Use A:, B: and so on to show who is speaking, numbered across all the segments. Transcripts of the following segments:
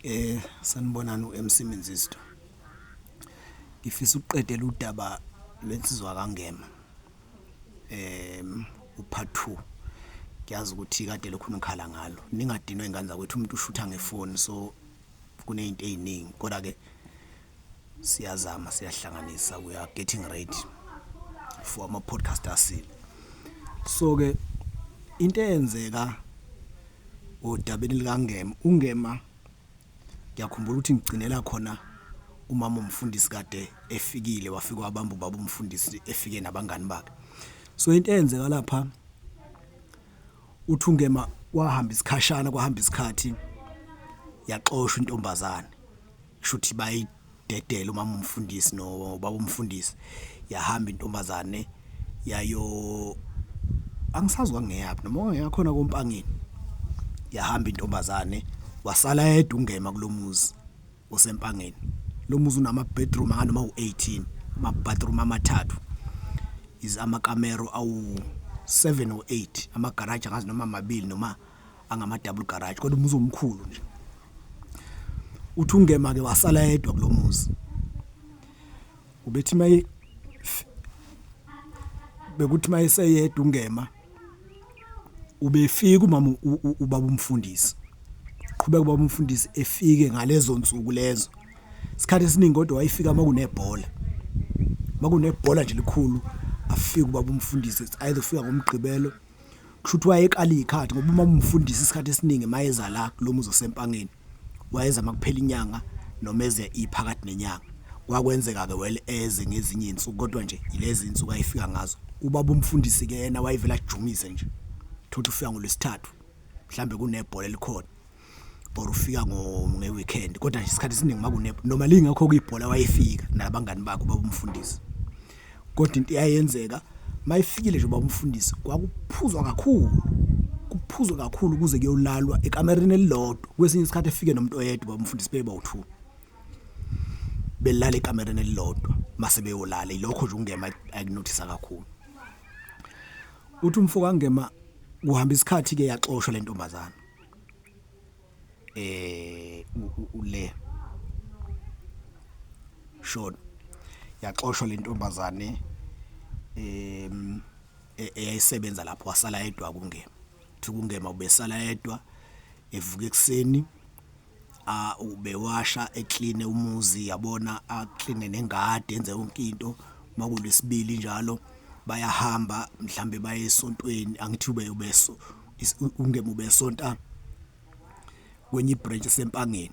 A: Eh sanibonani uMC Menzisto. Ngifisa ukuqedela udaba lwensizwa kaNgema. Em upart 2. Ngiyazi ukuthi kade lokhu nikhala ngalo. Ningadinwa ingane zakwethu umuntu ushutha ngefoni so kunezinto eziningi kodwa ke siyazama siyahlanganisa we are getting ready for ama podcast asile so ke into eyenzeka odabeni likangema ungema ngiyakhumbula ukuthi ngigcinela khona umama umfundisi kade efikile wafika wabamba ubaba umfundisi efike nabangani bakhe so into eyenzeka lapha uthi ungema wahamba isikhashana kwahamba isikhathi yaxoshwa intombazane kushuthi bayidedela umama umfundisi no baba umfundisi yahamba intombazane yayo angisazi kwangeyaphi noma ongeyakhona kompangeni yahamba intombazane wasala yedwa ungema kulomuzi osempangeni lo muzi unama bedroom anganoma u18 ama bathroom amathathu is amakamero awu 7 or 8 ama garage angazi noma amabili noma angama double garage kodwa umuzi omkhulu nje uthi ungema ke wasala yedwa kulomuzi ubethi maye bekuthi maye seyedwa ungema ubefika umama ubaba umfundisi qhubeka ubaba umfundisi efike ngalezo nsuku lezo isikhathi esiningi kodwa wayefika makunebhola makunebhola nje likhulu afike ubaba umfundisi ayizofika ngomgqibelo kushuthi wayekala izikhathi ngoba uma umfundisa isikhathi esiningi mayeza la kulomuzi osempangeni wayeza makuphela inyanga noma eze iphakathi nenyanga kwakwenzeka ke well eze ngezinye izinsuku kodwa nje ilezi insuku ayifika ngazo ubaba umfundisi ke yena wayevela ajumise nje thothi ufika ngolwesithathu mhlambe kunebhola elikhona or ufika ngeweekend kodwa isikhathi esiningi makune noma lingakho kuyibhola wayefika nabangani bakho babumfundisi kodwa into iyayenzeka mayifikile nje babumfundisi kwakuphuzwa kakhulu kuphuzwa kakhulu kuze kuyolalwa ekamereni elilodwa kwesinye isikhathi efike nomuntu oyedwa babumfundisi beba uthu belala ekamereni elilodwa mase beyolala ilokho nje ungema akunothisa kakhulu uthi umfo kangema kuhamba isikhathi ke yaxoshwa lentombazana eh ule short yaxoshwa lentombazane em e-, eyayisebenza lapho wasala yedwa kungema kuthi kungema ubesala yedwa evuka ekuseni a ubewasha eclean umuzi yabona a clean nengadi enze yonke into makulesibili njalo bayahamba mhlambe baye esontweni angithi ube ubeso ungemube sonta kwenye branch sempangeni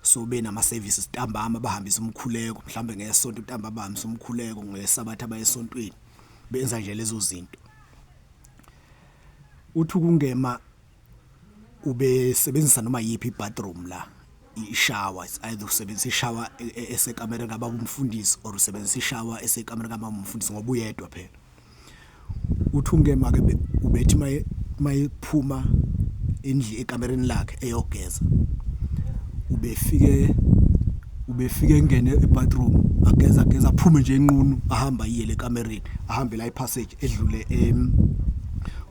A: so benama services ntambama bahambisa umkhuleko mhlambe ngesonto ntamba bahambisa umkhuleko ngesabatha bayesontweni benza nje lezo zinto uthi ukungema ubesebenzisa noma yipi bathroom la ishawa it's either usebenzisa ishawa e, e, esekamereni kababa umfundisi or usebenzisa ishawa esekamereni kababa umfundisi ngoba uyedwa phela uthi ungema ke ubethi maye mayephuma endli ekamereni lakhe eyogeza ubefike ubefike engene ebathroom ageza ageza aphume nje enqunu ahamba iye lekamereni ahambe la ipassage edlule em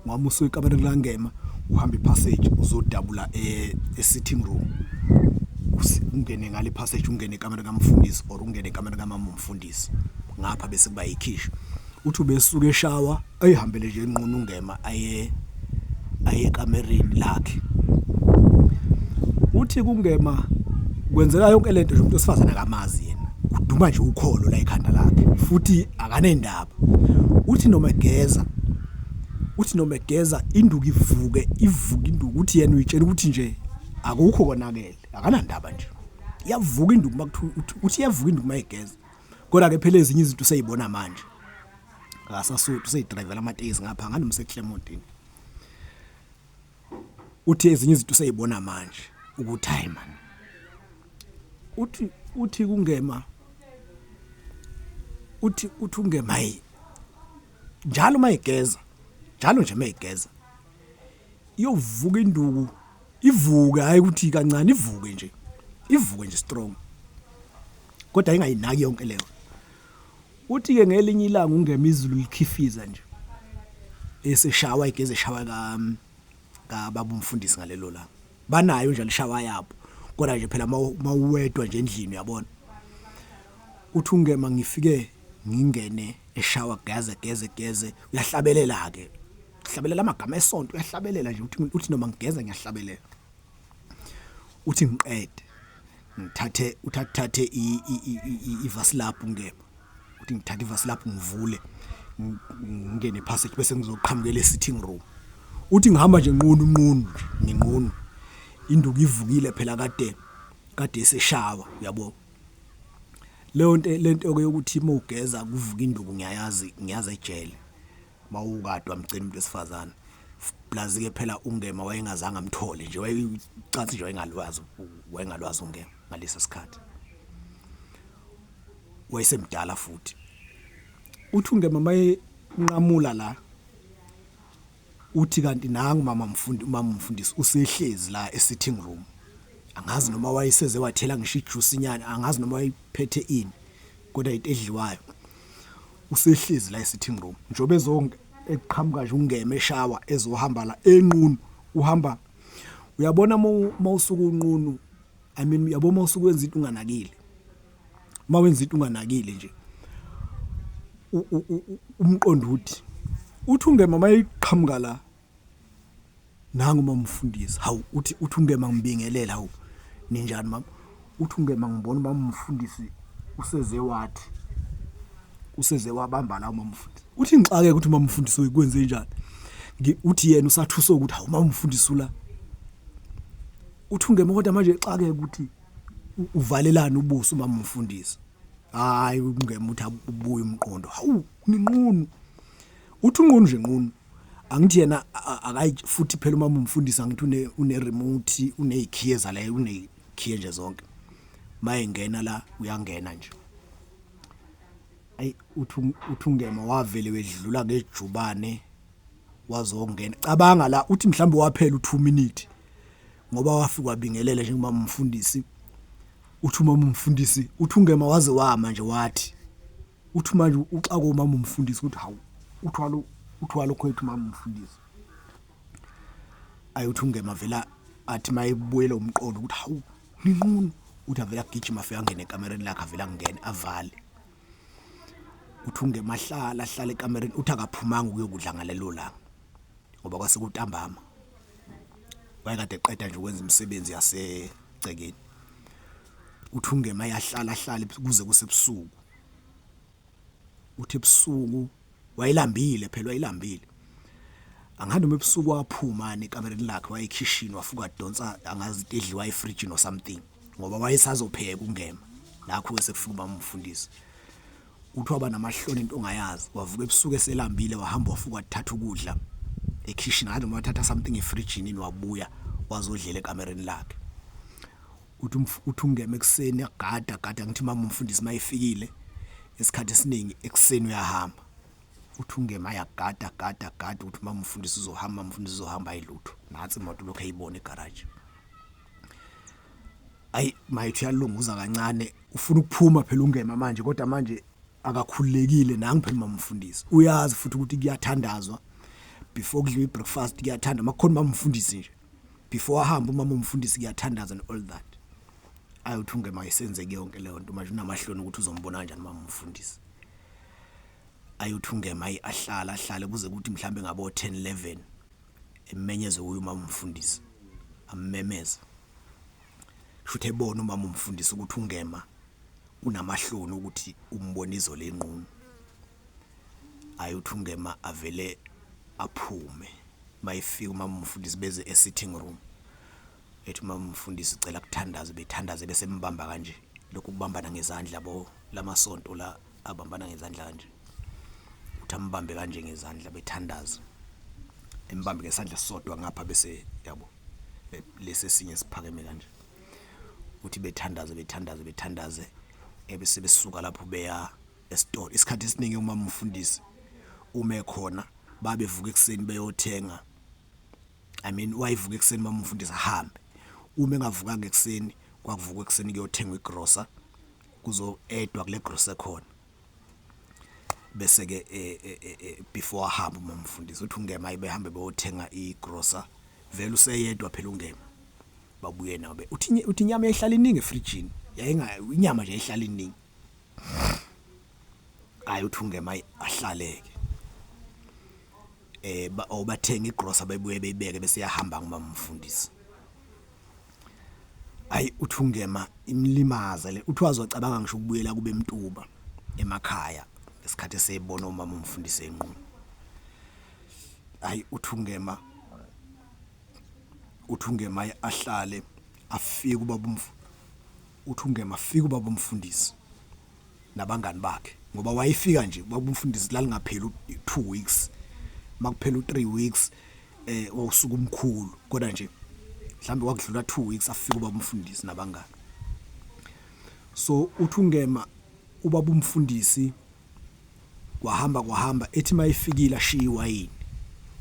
A: wami usuke ikamera kulangema uhamba ipassage uzodabula e, e sitting room ungene ngale passage ungene ikamera kamfundisi or ungene ikamera kamama umfundisi ngapha bese kuba yikhisho uthi ubesuke eshawa ayihambele nje enqunu ngema aye ayekamereni lakhe uthi kungema kwenzeka yonke lento nje umuntu osifazana akamazi yena uduma nje ukholo la ekhanda lakhe futhi akanendaba uthi noma egeza uthi noma egeza induku ivuke ivuke induku uthi yena uyitshela ukuthi nje akukho konakele akanandaba nje iyavuka induku makuthiwa uthi iyavuka induku mayigeza kodwa ke phela ezinye izinto useyibona manje ngasasuthu seyidrivela amatekisi ngapha nganomse Clementine uthi ezinye izinto useyibona manje ukuthi hayi man uthi uthi kungema uthi uthi ungema yi njalo mayigeza njalo nje mayigeza iyovuka induku ivuke hayi ukuthi kancane ivuke nje ivuke nje strong kodwa ingayinaki yonke leyo Uthi-ke ngelinye ilanga uNgema izulu likhifiza nje, eseshawa igeza eshawa kababa umfundisi ngalelo langa. Banayo njalo ishawa yabo, kodwa nje phela mawuwedwa nje endlini uyabona. Uthi uNgema ngifike ngingene eshawa geze geze geze uyahlabelela-ke. Uhlabelela amagama esonto uyahlabelela nje uthi uthi noma ngigeza ngiyahlabelela. uthi ngiqede ngithathe uthathe ivasilabhu ngebe uthi ngithathe ivasilabhu ngivule ngingene passage bese ngizoqhamukela e-sitting room uthi ngihamba nje nqunu nqunu nginqunu induku ivukile phela kade kade eseshawa yabo leyo nto lento yokuthi mawugeza kuvuka induku ngiyayazi ngiyazi ejele mawukadwa mgcina umuntu wesifazane plus ke phela ungema wayengazange amthole nje wayecathi nje wayengalwazi wayengalwazi ungema ngalesa sikhathi wayesemdala futhi uthi ungema maye nqamula la uthi kanti nangu mama mfundi umama mfundisi usehlezi la e sitting room angazi noma wayeseze wathela ngisho ijuice inyana angazi noma wayiphethe ini kodwa into edliwayo usehlezi la e-sitting room njengoba ezonke eqhamuka nje ungeme eshawa ezohamba la enqunu uhamba uyabona mawusuka unqunu i mean uyabo mawusuka wenza into unganakile mawenza into unganakile nje umqondo uthi uthi ungema mayiqhamuka la Nangu uma umfundisi. Hawu uthi uthi ungema ngibingelela hawu. Ninjani mama? Uthi ungema ngibona uma umfundisi useze wathi. Useze wabamba la uma umfundisi. Uthi ngixake ukuthi uma umfundisi uyikwenze njani. Uthi yena usathusa ukuthi hawu uma umfundisi ula. Uthi ungema kodwa manje exake ukuthi uvalelana ubuso uma umfundisi. Hayi ungema uthi ubuye umqondo. Hawu ninqunu. Uthi unqunu nje nqunu. angithi yena akayi futhi phela uma umfundisa ngithi une une remote unezikhiye zala unezikhiye nje zonke mayengena la uyangena nje ayi uthi uthungema wavele wedlula ngejubane wazongena cabanga la uthi mhlawumbe waphela u2 minute ngoba wafika wabingelela njengoba umfundisi uthi uma umfundisi uthungema waze wama nje wathi uthi manje uxako mama umfundisi ukuthi hawu uthwalo uthwalo khwethu mama umfundisi ayi uthi ungema vela athi mayebuyela umqondo ukuthi hawu ninqunu uthi avela gijima afika ngene ekamereni lakhe avela ngene avale uthi ungemahlala ahlala ekamereni uthi akaphumanga ukuyokudla ngalelo langa ngoba kwase kutambama wayekade eqeda nje ukwenza imisebenzi yasegcekeni uthi ungema yahlala ahlale kuze kusebusuku uthi ebusuku wayelambile phela wayelambile angathi noma ebusuku waphuma nekamereni lakhe wayekhishini wafuka donsa angazi into edliwa efridge no something ngoba wayesazopheka ungema nakho sekufuna uba umfundisi uthi waba namahloni into ongayazi wavuka ebusuku eselambile wahamba wafuka thatha ukudla ekhishini ngathi noma wathatha something efridge nini wabuya wazodlela ekamereni lakhe uthi umf- uthi ungema ekuseni agada agada ngithi mama umfundisi mayefikile isikhathi esiningi ekuseni uyahamba uthi ungema ayagada agada agada ukuthi mama umfundisi uzohamba umfundisi uzohamba ayilutho nathi imoto lokho eyibona egaraji ayi mayithi uyalunguza kancane ufuna ukuphuma phela ungema manje kodwa manje akakhululekile nangu phela mamfundisi uyazi futhi ukuthi kuyathandazwa before kudliwa i-breakfast kuyathanda makukhona mamfundisi nje before ahambe umama umfundisi kuyathandaza and all that ayothi ungema isenzeke yonke leyo nto manje unamahloni ukuthi uzombona kanjani mama umfundisi ayothi ungema ahlala ahlale kuze kuthi mhlambe ngabo 10 11 emenyeze kuyo mama umfundisi ammemeza shuthe ebona umama umfundisi ukuthi ungema unamahloni ukuthi umbona izolo enqunu Hayi uthi ungema avele aphume mayefika umamumfundisi beze e-sitting room ethi umamumfundisi cela kuthandaze bethandaze bese mbamba kanje lokhu kubambana ngezandla bo lamasonto la abambana ngezandla kanje uthi ambambe kanje ngezandla bethandaze embambe ngesandla sodwa ngapha bese yabo lesi sinye siphakeme kanje uthi bethandaze bethandaze bethandaze ebese besuka lapho beya esitolo isikhathi esiningi uma umfundisi ume khona babevuka ekuseni beyothenga i mean wayivuka ekuseni uma umfundisi ahambe uma engavukanga ekuseni kwakuvuka ekuseni kuyothengwa igrosa kuzo edwa kule grosa khona bese ke eh, eh, eh, before ahamba uma umfundisi uthi ungema ibehambe beyothenga igrosa vele useyedwa phela ungema babuye nabe uthi uthi inyama yayihlala iningi efrijini yayinga inyama nje yayihlala iningi hayi uthi ungema ahlaleke eh obathenga oh, igrosa bebuye beyibeke bese yahamba ngumama umfundisi hayi uthi ungema imlimaza le uthi wazocabanga ngisho ukubuyela kube mtuba emakhaya ngesikhathi esebona umama umfundisi enqunu hayi uthi ungema uthi ungema ahlale afike ubaba umfundisi uthi ungema fika ubaba umfundisi nabangani bakhe ngoba wayefika nje ubaba umfundisi lalingapheli 2 weeks makuphela u3 weeks eh wawusuka umkhulu kodwa nje mhlambe wakudlula 2 weeks afika ubaba umfundisi nabangani so uthi ungema ubaba umfundisi kwahamba kwahamba ethi mayifikile ashiya iwayini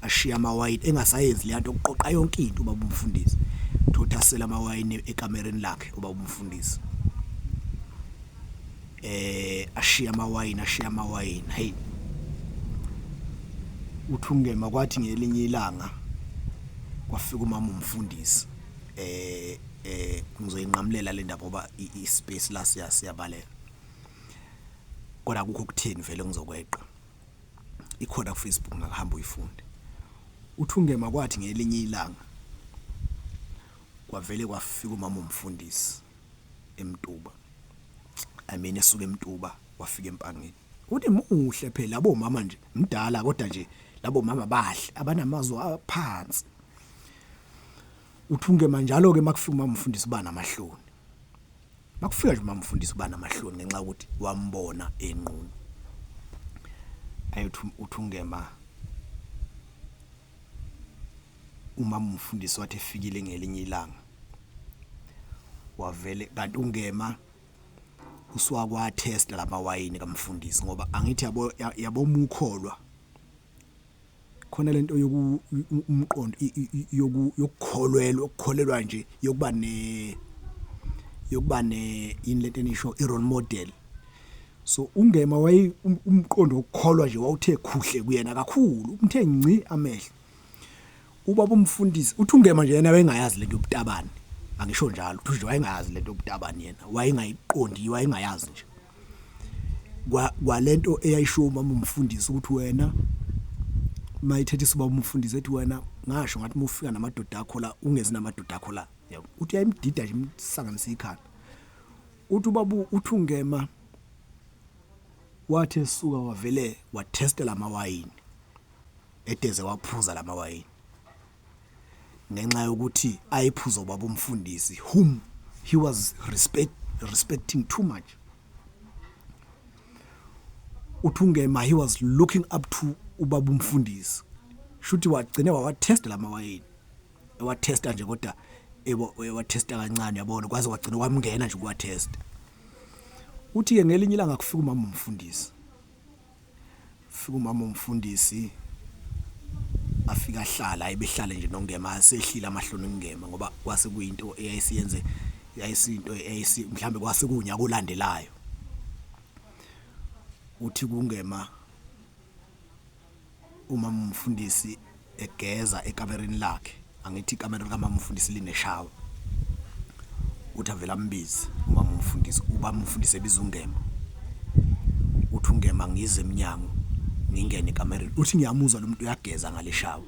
A: ashiya amawayini engasayenzi le nto kuqoqa yonke into ubaba umfundisi thothasela amawayini ekamereni lakhe ubaba umfundisi eh ashiya amawayini ashiya amawayini hayi uthungema kwathi ngelinye ilanga kwafika umama umfundisi eh eh ngizoyinqamulela le ndaba ngoba i space la siyabaleka kodwa akukho ukutheni vele ngizokweqa ikhona ku Facebook ngahamba uyifunde uthungema kwathi ngelinye ilanga kwavele kwafika umama umfundisi emtuba i mean esuka emtuba wafika empangeni uthi muhle phela labo mama nje mdala kodwa nje labo mama bahle abanamazwi aphansi uthunge manjalo ke makufika umama umfundisi bana amahloni Makufika nje umamfundisi ubana amahloni ngenxa ukuthi wambona enqunu. Ayothi uthungema umama umfundisi wathi efikile ngelinye ilanga. Wavele kanti ungema uswakwa test lama wayini kamfundisi ngoba angithi yabo yabo mukholwa khona lento yoku umqondo yoku yokukholwelwa ukukholelwa nje yokuba ne yokuba ne yini lento enisho i role model so ungema waye um, umqondo wokukholwa nje wawuthe khuhle kuyena kakhulu umthe ngci amehlo ubaba umfundisi uthi ungema nje yena wayengayazi lento yobutabani angisho njalo uthi nje wayengayazi lento yobutabani yena wayengayiqondi wayengayazi nje kwa kwalento eyayishiwo umama umfundisi ukuthi wena mayithethe isiba umfundisi ethi wena ngasho ngathi mufika namadoda akho la ungezi namadoda akho la yabo uthi yayimdida nje imsanganisa ikhanda uthi ubabu uthungema wathi esuka wavele wathestela amawayini eteze waphuza lamawayini ngenxa yokuthi ayephuza ubaba umfundisi whom he was respect, respecting too much uthi ungema he was looking up to ubaba umfundisi shuthi wagcine wawatesta la mawayini ewatesta nje kodwa ewatesta kancane yabona kwaze kwagcina kwamngena nje ukuwatesta uthi-ke ngelinye ilanga kufika umama umfundisi Fika umama umfundisi afika ahlala ebehlale nje nongema sehlile amahloni ngema ngoba kwase kuyinto eyayisiyenze yayisinto eyayisi mhlambe kwase kunya kolandelayo uthi kungema uma umfundisi egeza ekamereni lakhe angithi ikamera likamama umfundisi lineshawa uthi avele ambize umama umfundisi uba umfundisi ebiza ungema uthi ungema ngize emnyango ngingene ekamereni uthi ngiyamuzwa lo muntu uyageza ngaleshawa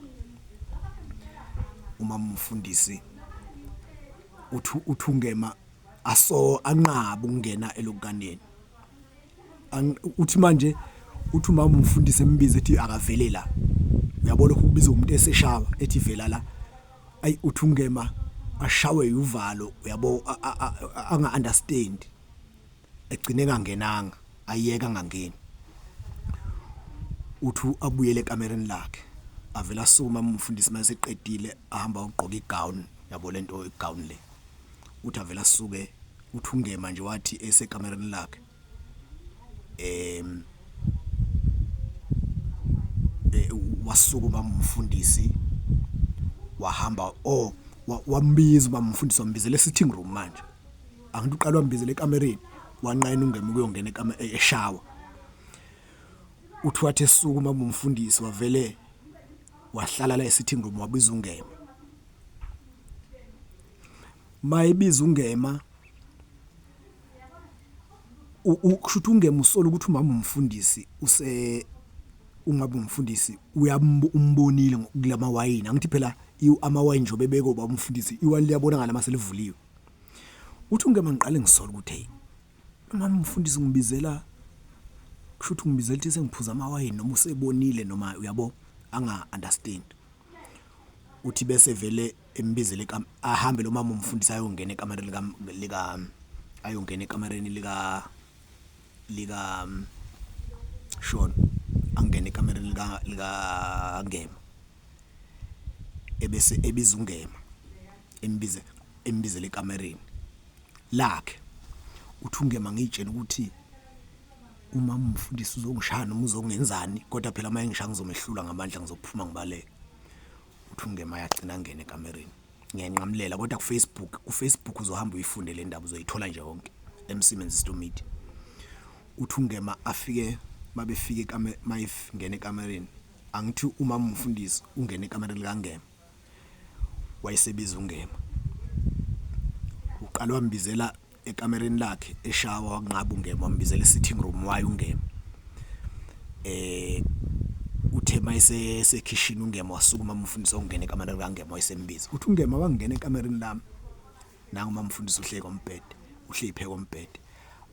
A: umama umfundisi uthi uthi ungema aso anqaba ukungena elokukaneni uthi manje uthi umama umfundisi embiza ethi akavele la uyabo lokho kubiza umuntu eseshawa ethi vela la ayi uthi ungema ashawe yuvalo uyabo anga understand egcine kangenanga ayeka ngangeni uthi abuyele ekamereni lakhe avela suma umfundisi mase qedile ahamba ugqoka igown yabo lento igown le uthi avela suke uthi ungema nje wathi esekamereni lakhe em eh, wasukuma umfundisi wahamba oh wambiza uba mfundisi wambizele sitting room manje angithi uqala wambizele ekamereni wanqena ungema ukuyongena ekamera e-, eshawa uthi wathi esukuma umfundisi wavele wahlala la esitting room wabiza ungema Mayebiza uNgema ukusho ukuthi uNgema usola ukuthi umama umfundisi use ungabe umfundisi uyamumbonile kulama wayini angithi phela amawayini nje obebeko baba umfundisi iwani liyabonakala uma selivuliwe uthi uNgema ngiqale ngisola ukuthi hey umama umfundisi ngibizela kusho ukuthi ngibizela ukuthi sengiphuza amawayini noma usebonile noma uyabo anga understand uthi bese vele embizele ahambe lo mama umfundisi ayongena ekamareni lika lika ayongena ekamareni lika lika Sean angena ekamareni lika lika Ngema ebese ebiza uNgema embize embizele ekamareni lakhe uthi uNgema ngiyitshela ukuthi Uma umfundisi uzongishaya noma uzongenzani kodwa phela uma engishaya ngizomehlula ngamandla ngizophuma ngibaleke. Uthi ungema yagcina ngene ekamereni. Ngiyanqamulela kodwa ku Facebook, ku Facebook uzohamba uyifunde le ndaba uzoyithola nje yonke emsimenzi stomidi. Uthi ungema afike mabefike kame mayif ngene ekamereni. Angithi uma umfundisi ungena ekamereni likangema. wayesebiza uNgema uqala wambizela ekamereni lakhe eshawa wanqaba uNgema wambizela e-sitting room waye uNgema eh uthe mayise sekhishini uNgema wasukuma umfundisi ongena ekamereni kaNgema wayesembiza uthi uNgema wangena ekamereni lami nangu mamfundisi uhleka umbhede uhleli pheka umbhede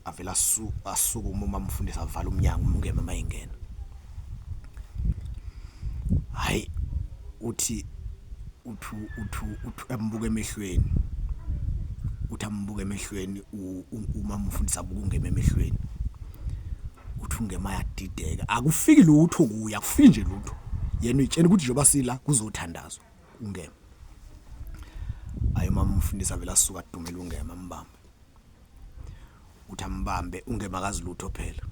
A: avela asuka uma mamfundisi avala umnyango umngema mayingena hayi uthi uthu uthu uthu ambuke emehlweni uthi ambuke emehlweni uma mfundisa abuke ungema emehlweni uthi ungema yadideka akufiki lutho kuya kufike nje lutho yena uyitshena ukuthi njengoba sila kuzothandazwa Ungema. Hayi mama umfundisi avele asuka adumela ungema ambambe. Uthi ambambe ungema kazi lutho phela.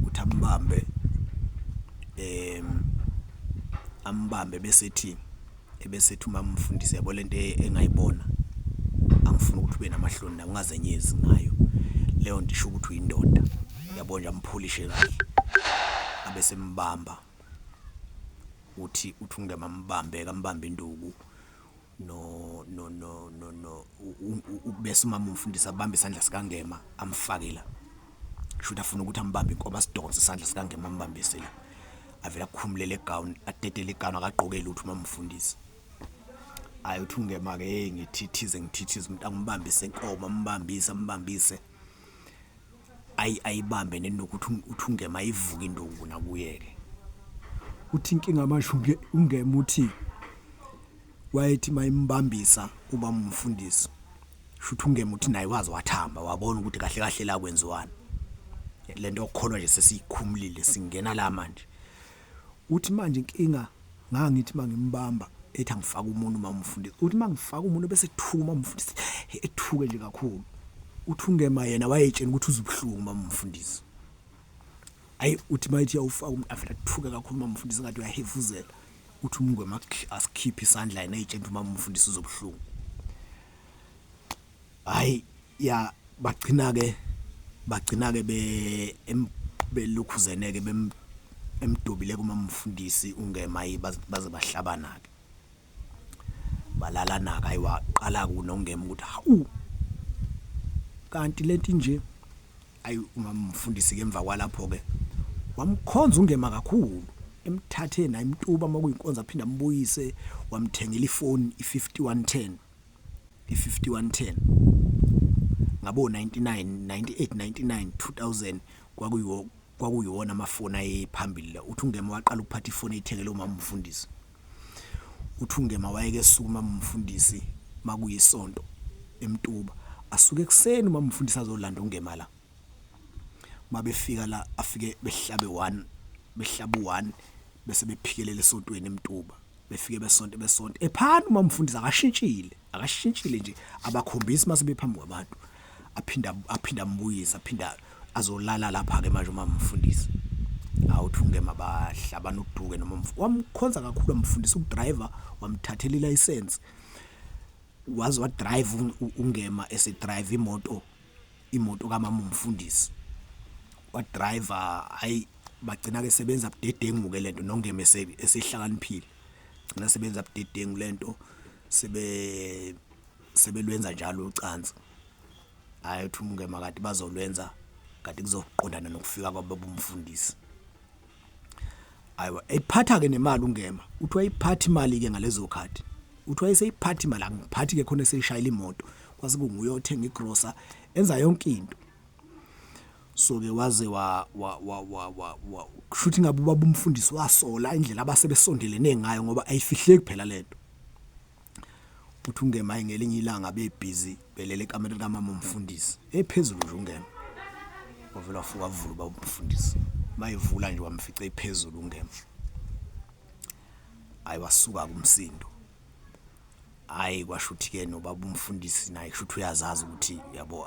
A: Uthi ambambe em ambambe bese ethi ebese ethi uma umfundisi yabo lento e-, engayibona angifuni ukuthi ube namahloni na ungazenyezi ngayo leyo nto isho ukuthi uyindoda yabo nje ampholishe kahle abese mbamba uthi uthi ungema mbambe kambamba induku no no no no no ubese umama umfundisi abambe isandla sikangema amfake la shuthi afuna ukuthi ambambe inkoba asidonse isandla sikangema ambambise la avela kukhumulele gown atetele igano akagqokeli ukuthi uma mfundisi ayi uthi ungema ke hey ngithithize ngithithize umuntu angimbambise inkomo ambambise ambambise ayi ayibambe nenokuthi uthungema ivuka indungu nakuyeke uthi inkinga manje unge ungema uthi wayethi mayimbambisa uba umfundisi shuthi ungema uthi naye wazi wathamba wabona ukuthi kahle kahle la kwenziwani lento yokukholwa nje sesiyikhumulile singena la manje Uthi manje inkinga ngangithi mangimbamba ethi angifaka umuntu uma umfundisi uthi mangifaka umuntu bese ethuka uma umfundisi ethuke nje kakhulu uthi ungema yena wayetshena ukuthi uzubuhlungu uma umfundisi ayi uthi mayithi yawufaka umuntu afela ethuke kakhulu uma umfundisi ngathi uyahefuzela uthi umngwema asikhiphe isandla yena eyitshena uma umfundisi uzobuhlungu Hayi ya bagcina ke bagcina ke be belukhuzene ke bem emdubile kuma mfundisi ungema baze bahlabana ke balalana ke ayiwaqala ku nongema ukuthi hawu kanti lento nje ayi umamfundisi ke emva kwalapho ke wamkhonza ungema kakhulu emthathe naye imtuba uma kuyinkonzo aphinde ambuyise wamthengela ifoni i5110 i-5110 ngabo-1999 2000 kwakuyiwo kwakuyiwona amafoni ayephambili la uthi ungema waqala ukuphatha ifoni eyithengele umama umfundisi uthi ungema wayeke suka umama umfundisi makuyisonto emtuba asuke ekuseni umama umfundisi azolanda ungema la mabefika la afike behlabe one behlabu one bese bephikelela esontweni emtuba befike besonto besonto ephana uma umfundisi akashintshile akashintshile nje abakhombisi mase bephambi kwabantu aphinda aphinda ambuyisa aphinda azolala lapha ke manje uma umfundisi awuthunge mabahla banoduke noma wamkhonza kakhulu umfundisi ukudriver wamthathela ilicense wazi wadrive ungema esedrive imoto imoto kamama umfundisi wadriver hayi bagcina ke sebenza budedengu ke lento nongeme esehlakaniphile gcina sebenza budedengu lento sebe sebelwenza njalo ucansi hayi uthi umngema kade bazolwenza kade kuzoqondana nokufika kwababumfundisi Ayiwa iphatha ke nemali ungema. Uthi wayiphatha imali ke ngalezo khathi. Uthi wayeseyiphatha imali angiphathi ke khona eseyishayela imoto. Kwase kunguye othenga igrocer enza yonke into. so ke waze wa wa wa wa wa wa kushuthi ngabe ubaba umfundisi wasola indlela abase besondelene ngayo ngoba ayifihleki phela lento uthi ungema hayi ngelinye ilanga bebhizi belele ekamereni kamama umfundisi ephezulu nje ungema wavela wafuka wavula uba umfundisi mayevula nje wamfica ephezulu ungema hayi wasuka kumsindo hayi kwasho ukuthi-ke nobaba umfundisi naye kusho ukuthi uyazazi ukuthi yabo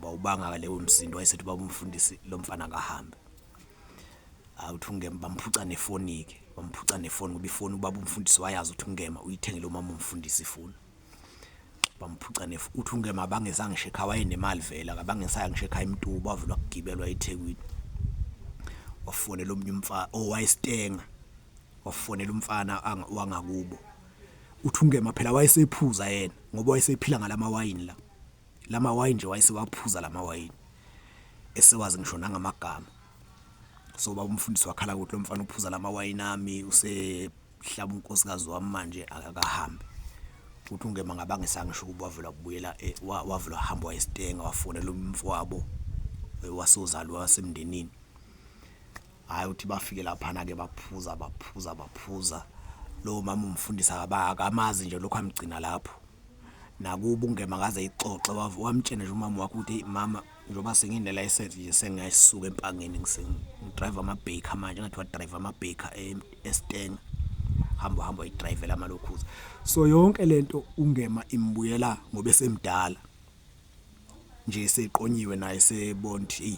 A: bawubangaka lewo msindo wayesethi baba umfundisi lo mfana akahambe hayi uthi ungema bamphuca nefoni-ke bamphuca nefoni ngoba ifoni ubaba umfundisi wayazi uthi ungema uyithengele umama umfundisi ifoni bamphuca nef uthi ungema bangeza ngisho ekhaya wayenemali vele akabangesaya ngisho ekhaya imtuba wavula kugibelwa ethekwini wafonela omunye umfana owayestenga oh, wafonela umfana wangakubo uthi ungema phela wayesephuza yena ngoba wayesephila ngalamawayini la la mawayini nje wayesewaphuza la mawayini esewazi ngisho nangamagama so baba umfundisi wakhala ukuthi lo mfana uphuza la mawayini ami usehlaba unkosikazi wami manje akakahambi ukuthi ungema ngabangisanga ngisho ukuba wavela kubuyela eh, wavela wahamba wayesitenga wafonela umfowabo eh, wasozalwa wasemndenini hayi uthi bafike laphana ke baphuza baphuza baphuza lo mama umfundisa akamazi nje lokho amgcina lapho nakubo ungema kaze ayixoxe wavu wamtshena nje umama wakho ukuthi mama njengoba sengine license nje sengiyasuka empangeni ngisengidrayiva ama baker manje ngathi wa driver ama baker e, eStenga hamba hamba uyidrivela amalokhuza so yonke lento ungema imbuyela ngoba esemdala nje seqonyiwe naye sebond hey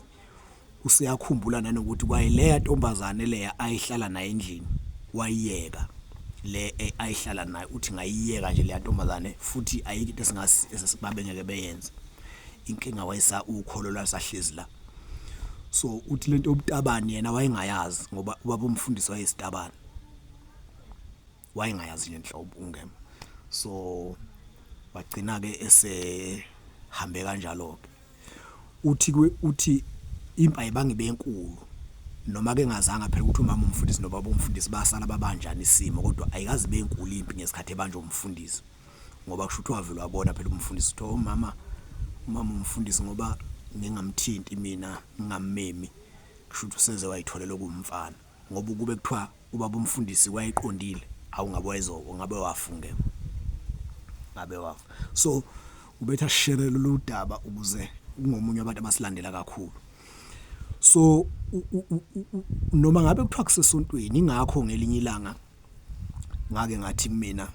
A: useyakhumbula nanokuthi kwayileya ntombazane leya ayihlala naye endlini wayiyeka le e, ayihlala naye uthi ngayiyeka nje le ntombazane futhi ayikho into esingasi esisibabe ngeke beyenze inkinga wayisa ukholo lwasahlezi la so uthi lento yobutabani yena wayengayazi ngoba ubaba umfundisi wayesitabani wayengayazi nje nhlobo ungema so wagcina ke esehambe kanjalo ke uthi uthi impaya bangibe enkulu noma ke ngazanga phela ukuthi umama umfundisi nobaba umfundisi basala babanjani isimo kodwa ayikazi benkulu impi ngesikhathi ebanje umfundisi ngoba kusho ukuthi wavele wabona phela umfundisi uthe umama oh, umama umfundisi ngoba ngingamthinti mina ngingammemi kusho ukuthi useze wayitholela kumfana Ngoba ukube kuthiwa ubaba umfundisi wayeqondile awu ngabe wayezo ngabe wafunge ngabe wafa so ubetha share lolu daba ukuze ungomunye abantu abasilandela kakhulu so noma ngabe kuthiwa kusesontweni ingakho ngelinye ilanga ngake ngathi mina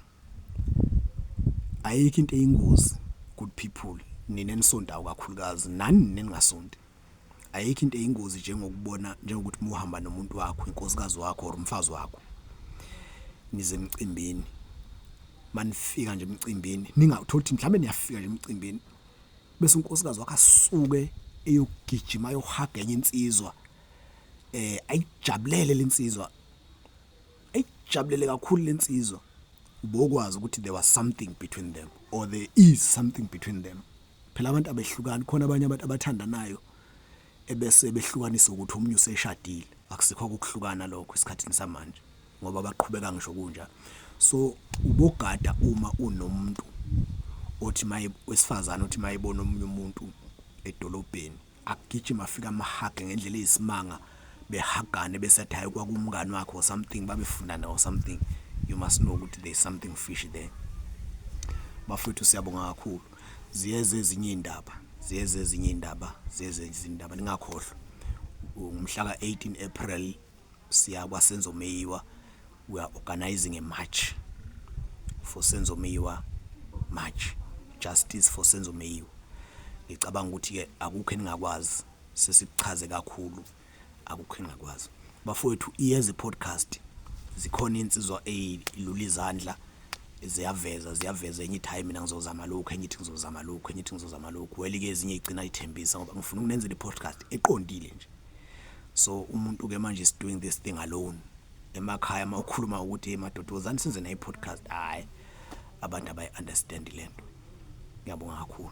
A: ayikho into eyingozi good people nina nisontayo kakhulukazi nani ningasonti ayikho into eyingozi njengokubona njengokuthi muhamba nomuntu wakho inkosikazi wakho or umfazi wakho nize emcimbini manifika nje emcimbini ningatholi ukuthi mhlawumbe niyafika nje emcimbini bese unkosikazi wakhe asuke eyogijima yohaga enye insizwa eh ayijabulele lensizwa ayijabulele kakhulu lensizwa ubokwazi ukuthi there was something between them or there is something between them Phela abantu abehlukani khona abanye abantu abathandanayo ebese behlukanisa ukuthi omunye useshadile akusikho ukuhlukana lokho esikhathini samanje ngoba baqhubeka ngisho kunja so ubogada uma unomuntu othi maye wesifazana othi mayebona omunye umuntu edolobheni agijima afika amahage ngendlela eyisimanga behagane bese athi hayi kwakumngani wakhe or something babefundana or something you must know ukuthi there is something fish there bafethu siyabonga kakhulu ziyeze ezinye iy'ndaba ziyeze ezinye iy'ndaba ziyeze ezinye izindaba ningakhohlwa ngomhla ka-18 april siya kwasenzomeyiwa We are organising a march for Senzo Meyiwa march justice for Senzo Meyiwa. Ngicabanga ukuthi ke akukho eningakwazi sesichaze kakhulu akukho engakwazi. Bafowethu iyeza podcast zikhona insizwa elula izandla ziyaveza ziyaveza enye ithi hayi mina ngizozama lokhu enye ithi ngizozama lokhu enye ithi ngizozama lokhu weli ke ezinye igcina ithembisa ngoba ngifuna ukunenzela i-podcast eqondile nje so umuntu ke manje is doing this thing alone emakhaya uma ukhuluma ukuthi hey madoda wozani senze nayi podcast hayi abantu abayi understand lento ngiyabonga kakhulu